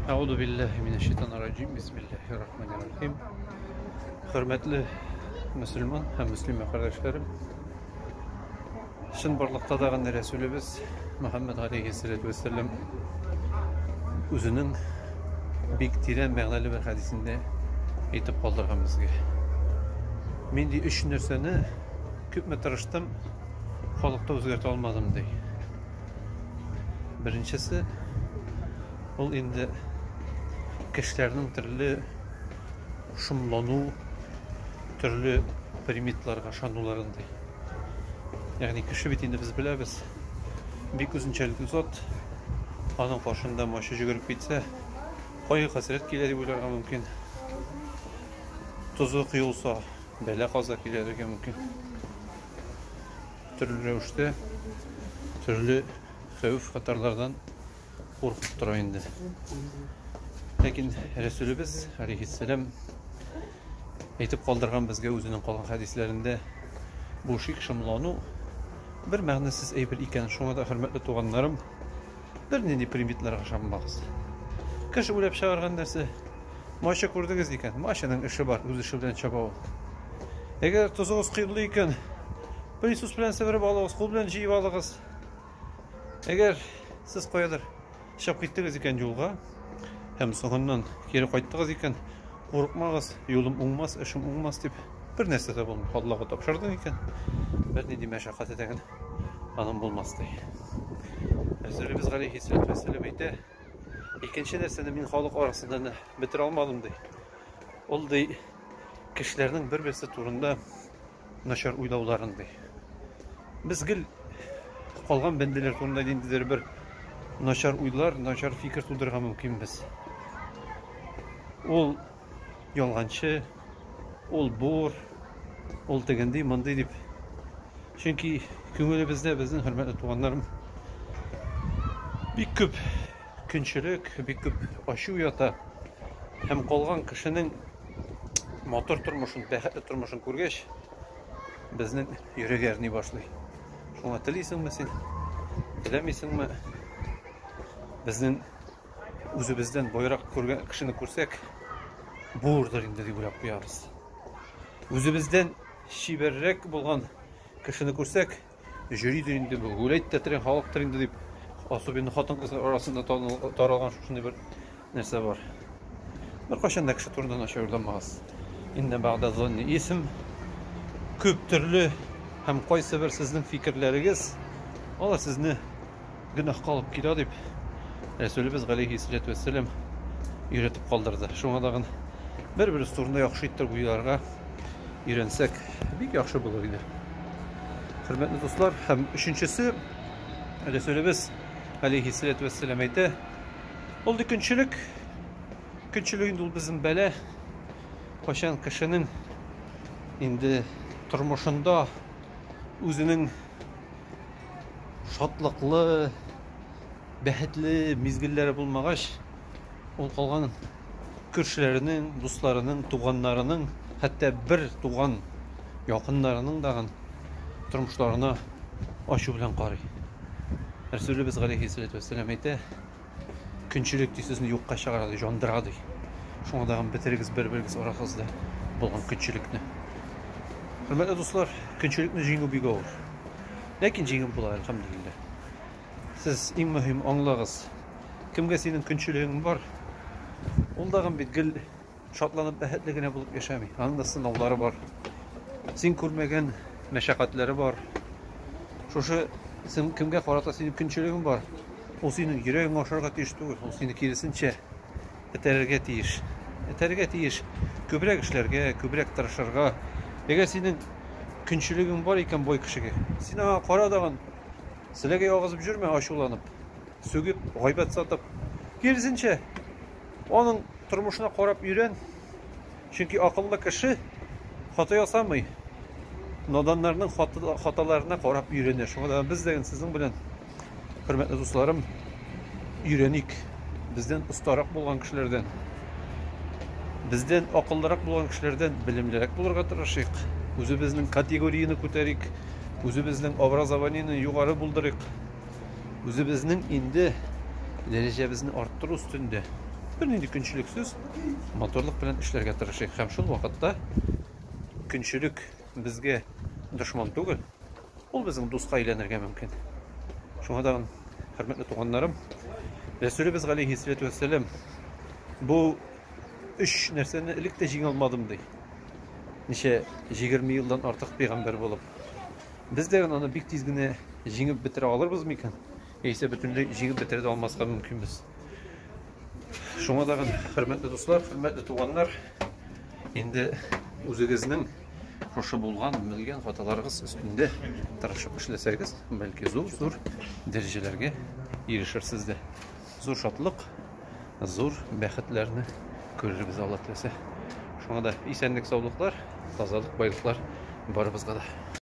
Әгъуду билләһи минәш шайтанир раҗим. Бисмиллаһир рахманир рахим. Хөрмәтле мөселман һәм мөслимә кардәшләрем. Шын барлыкта да гына Рәсүлебез Мөхәммәд алейхи салату вассалам үзенең бик тирән мәгънәле бер хәдисендә әйтеп калдырган безгә. Мин ди өч нәрсәне күпме тырыштым, халыкта үзгәртә алмадым ди. Беренчесе ул инде кешеләрнең төрле шомлану, төрле примитларга ышануларын ди. Ягъни кеше бит инде без беләбез, бик үзенчәлекле зат. Аның каршында мачы җөгереп китсә, кайгы хәсрәт килә дип уйларга мөмкин. Тозы коелса, бәла каза килергә мөмкин. Төрле рәвештә төрле хәвеф хатарлардан куркып тора инде. Ләкин Рәсүлебез алейхиссәлам әйтеп калдырган безгә үзенең калган хәдисләрендә бу шик шомлану бер мәгънәсез әйбер икән. Шуңа да хөрмәтле туганнарым, Бернинди примитларга ышанмагыз. Кыш уйлап чыгарган нәрсә. Мача күрдегез икән, мачаның эше бар, үз эше белән чаба ул. Әгәр тозыгыз кыйблы икән, пылесос белән себереп алыгыз, кул белән җыеп алыгыз. Әгәр сез каядыр чыгып киттегез икән юлга һәм соңыннан кире кайттыгыз икән, курыкмагыз, юлым уңмас, эшем уңмас дип бер нәрсә дә булмый. Аллага тапшырдың икән, бернинди мәшәкать итәгән аның булмас ди. Әзерлебез Гали Хисрәт Вәсилев әйтә. Икенче нәрсәне мин халык арасында бетерә алмадым ди. Ул ди кешеләрнең бер-берсе турында начар уйлауларын ди. Без гел калган бәндәләр турында ниндидер бер начар уйлар, начар фикер тудырырга мөмкинбез. Ул ялганчы, ул бур, ул тегенди, мондый дип. Чөнки күңелебездә безнең хөрмәтле туганнарым бик күп көнчелек, бик күп ачу ята. Һәм калган кешенең матур тормышын, бәхетле тормышын күргәч, безнең йөрәк әрни башлый. Шуңа телисеңме син? Теләмисеңме? Безнең үзебездән байрак күргән кешене күрсәк, булырдыр инде дип уйлап куябыз. Үзебездән чибәррәк булган кешене күрсәк, жюридер инде бу, гүләйт тә тирән халыктыр инде дип, особенно хатын-кызлар арасында таралган шушындый бер нәрсә бар. Беркайчан да кеше турында начар уйламагыз. Инна бәгъдә зонни исм күп төрле һәм кайсы бер сезнең фикерләрегез алар сезне гөнаһ калып килә дип рәсүлебез галәйһи салату вәссәлам өйрәтеп калдырды шуңа тагын бер беребез турында яхшы итеп уйларга өйрәнсәк бик яхшы булыр иде хөрмәтле дуслар һәм өченчесе рәсүлебез галәйһи салату вәссәлам әйтә ул ди көнчелек көнчелек инде ул безнең бәла кайчан кешенең инде тормышында үзенең шатлыклы, бәхетле мизгелләре булмагач, ул калган күршеләренең, дусларының, туганнарының, хәтта бер туган якыннарының дагын тормышларына ачу белән карый. Рәсүлебез галәйһи сәләтү вәссәлам әйтә, Көнчелек ди сезне юкка чыгара ди, жандыра ди. Шуңа да бетерегез бер-берегез арагызда булган көнчелекне. Хөрмәтле дуслар, көнчелекне җиңү бик авыр. Ләкин җиңеп була, әлхәмдулилләһ. Сез иң мөһим аңлагыз. Кемгә синең көнчелегең бар? Ул дагы бит гел Шатланып, бәхетле генә булып яшәми. Аның да сынаулары бар. Син күрмәгән мәшәкатьләре бар. Шушы син кемгә карата синең көнчелегең бар? Ул синең йөрәгеңә ашарга тиеш түгел, ул сине киресенчә этәрергә тиеш. Этәрергә тиеш күбрәк эшләргә, күбрәк тырышырга. Әгәр синең көнчелегең бар икән бой кешегә, син аңа кара дагын селәгәй агызып жүрмә, ачуланып, сүгеп, гайбәт сатып. Киресенчә, Аның тормышына карап өйрән, чөнки акыллы кеше хата ясамый, наданнарның хаталарына карап өйрәнә. Шуңа да без дә сезнең белән, хөрмәтле дусларым, өйрәник бездән остарак булган кешеләрдән, бездән акыллырак булган кешеләрдән белемлерәк булырга тырышыйк, үзебезнең категорияне күтәрик, үзебезнең образованиене югары булдырыйк. Үзебезнең инде дәрәҗәбезне арттыру өстендә бернинди көнчелексез моторлык белән эшләргә тырышыйк һәм шул вакытта көнчелек безгә дошман түгел, ул безнең дуска әйләнергә мөмкин. Шуңа да хөрмәтле туганнарым, Рәсүлебез галейһиссәләтү вәссәлам бу өч нәрсәне элек тә җиңә алмадым ди. Ничә 20 елдан артык пәйгамбәр булып. Без дә аны бик тиз генә җиңеп бетерә алырбыз микән? Яисә бөтенләй җиңеп бетерә дә алмаска мөмкинбез. Шуңа да хөрмәтле дуслар, хөрмәтле туганнар, инде үзегезнең шушы булган, белгән хаталарыгыз өстендә тырышып эшләсәгез, бәлки зур-зур дәрәҗәләргә ирешерсез дә. Зур шатлык, зур бәхетләрне күрербез Алла теләсә. Шуңа да исәнлек-саулыклар, тазалык, байлыклар барыбызга да.